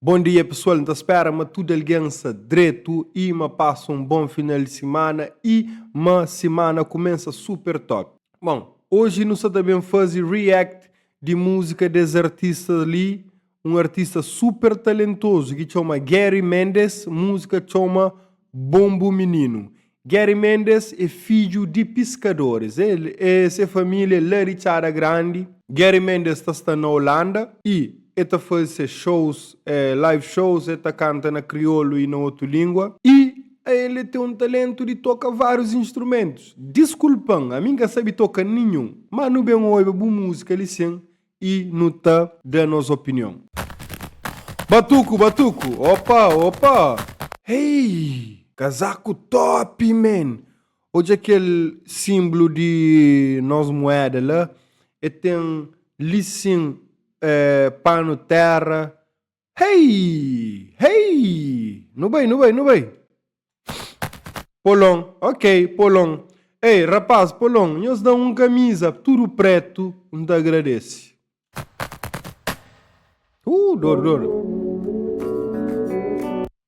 Bom dia pessoal, nta spera ma tudo alguém sa dreto e ma passa um bom final de semana e ma semana começa super top. Bom, hoje nu sa ta bem fazi react de música des artistas li un artista super talentozu ki txoma Gary Mendes, múzika txoma Bon Bu Mininu. Gary Mendes é fidju di piskadoris, el e se família é la di Txada Grandi. Gary Mendes ta sta na Olanda i el ta faze se xous, live shows, el ta kanta na kriolu i na otu língua. I el e ten un talentu di toka várius instrumentus. Diskulpa-m, ami N ka sabe toka ninhun, má nu ben oiba bu múzika li sin, Y nu ta da nos opinion. Batuku batuku opa opa. Hey! Kazaku top man! Odja kel simblu di nos mueda la, e ten li sin eh panu terra Hei! Hei! Nu bai, nu bai, nu bai! Polon, Ok, Polon. Ei, rapás, Polon, nhos da-m un kamiza tudu prétu, N ta agradese. Uh, dor, dor.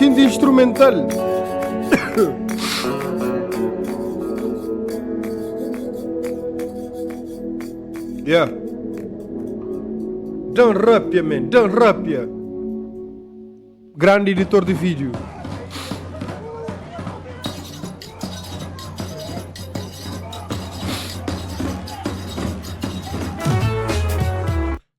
Xinti instrumental. Yeah. Dan Rapia, man. Dan Rapia. Grande editor de vídeo.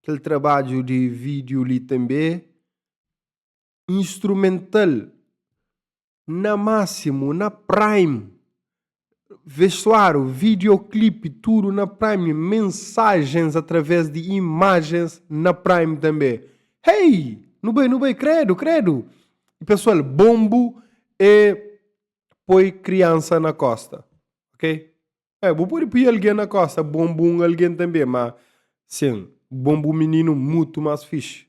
kel trabadju di vídiu li tanbê instrumental na másimu na prime vestuáriu videoclip tudo na prime mensagens através de imagens na prime tanbê hey nu bai nu bai credo credo e pessoal bombo e poi criança na costa ok É, bu pode pui algen na kosta bonbu un algen tanbê, má sen bonbu mininu mutu más fixi.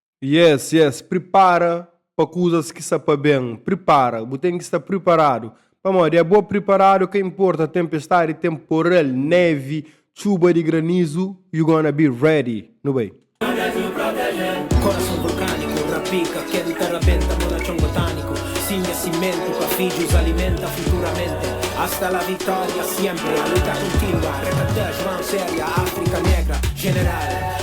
Yes yes pripara pa kuzas ki sa pa ben pripara bu ten ki sta priparadu pamodi é bo priparadu ka inporta tenpestadi tenporal nevi txuba di granizu you gonna be ready nu bai. Korason vulkaniku ra pika kel ta rabenta mo na txon botaniku si nha simentu pa fidjus alimenta futuramente hasta la victoria siempre la luta kontinua reta tex mãos erga afrika negra general.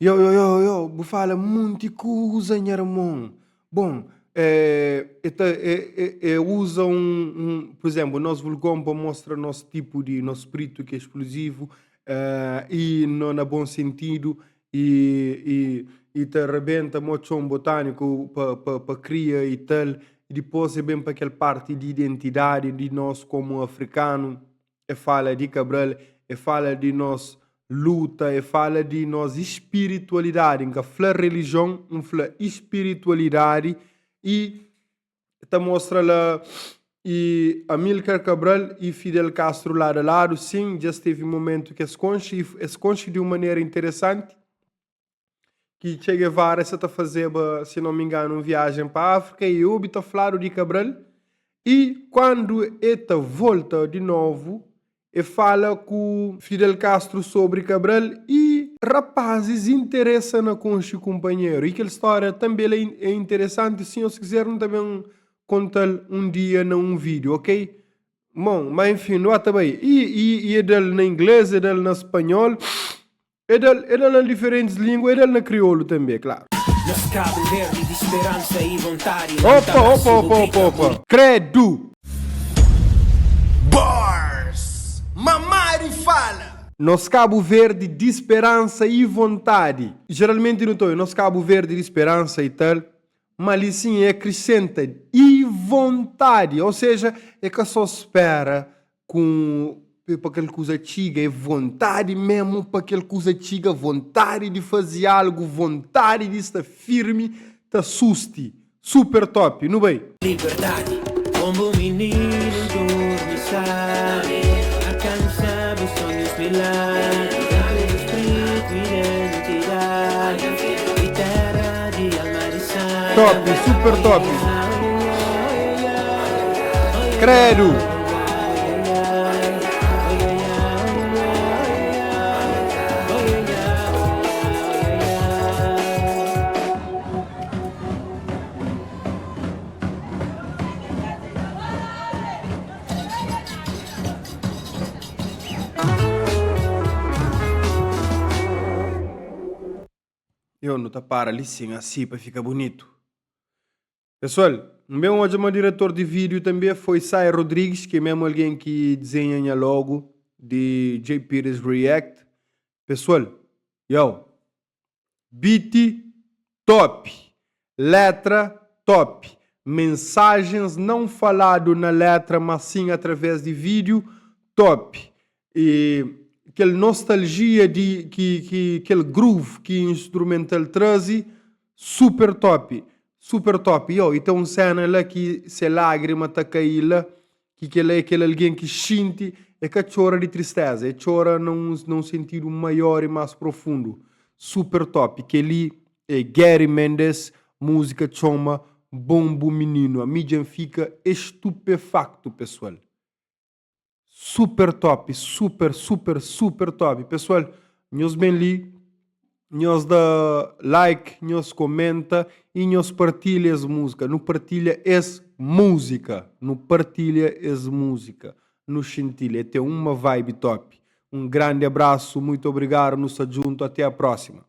Yo yo yo yo bu fala munti kuza nha irmon bom e ta e e e uza un un por exemplo nos vulgon pa mostra nos tipo di nos spritu ki é explosivo e no na bom sentido e e e ta rebenta mo txon botanico pa pa pa kria e tal e dipos e ben pa kel parti di identidade di nos como africano e fala di Cabral, e fala di nos luta, e fala di nos ispiritualidadi, N ka fla relijion, N fla ispiritualidadi, y ta mostra la y Amilcar Cabral y Fidel Castro ladu a ladu, sin, dja stevi momentu ki es konxi y es konxi di un manera interesanti, ki Che Guevara sa ta fazeba, si no mi nganu, un viajen pa Afrika e obi ta fladu di Cabral e kuandu e ta volta di novu e fala ku Fidel Castro sobri Cabral e rapazis interesa na konxi kunpanheru e kel storia tanbe la e interesanti, si nhos kiser nu ta ben kontal un dia na un video, ok? Bon, ma enfim, nu ba ta bai e e e dal na ingles e dal na spanhol E da-l, e da-l na diferentis língua, e da-l na kriolu tanbê, klaru. Nos Kabu Verdi di speransa y vontadi la Opa, opa, opa, opa, opa, opa! Kredu! Bars! Mamari fala! Nos Kabu Verdi di speransa y vontadi. Jeralmenti nu ta obi, Nos Kabu Verdi di speransa y tal, má li sin e akrisenta, y vontadi. Ô seja, e ka sô spera Kum pe pa kel kuza txiga? É vontadi mesmu pa kel kuza txiga, vontadi di fazi algu, vontadi di sta firmi ta susti. Super top! Nu bai! Liberdadi Kon bu mininu durmi sabi Alkansa bu sonhus milagri Na tudu spritu identidadi Di tera di alma di sangi Top! Super top! Kredu! Eu nu ta para li sin asi pa fika bunitu. Pesoal, N ben odja ma diretor di vídiu tanbê foi Sae Rodrigues, ki é mésmu algen ki dizenha nha logo di Jpeters React. Pesoal, Yow! Beat top! Letra top! Mensajens não falado na letra, mas sim através di vídiu, top! E kel nostalgia de que, que aquele groove que instrumental trazi super top super top yo e tem um cena lá que se lágrima tá cair lá que que lá é aquele alguém que xinti é cá chora de tristeza é chora num num sentido maior e mais profundo super top que ali é Gary Mendes música chama bom bom menino a mi já fica estupefacto pessoal Super top, super, super, super top. Pessoal, nhos bem li, nhos da like, nhos comenta e nhos partilha es música. Nu partilha es música. Nu partilha es música. Nu xintil, é tem uma vibe top. Um grande abraço, muito obrigado, nu sa junto, até a próxima.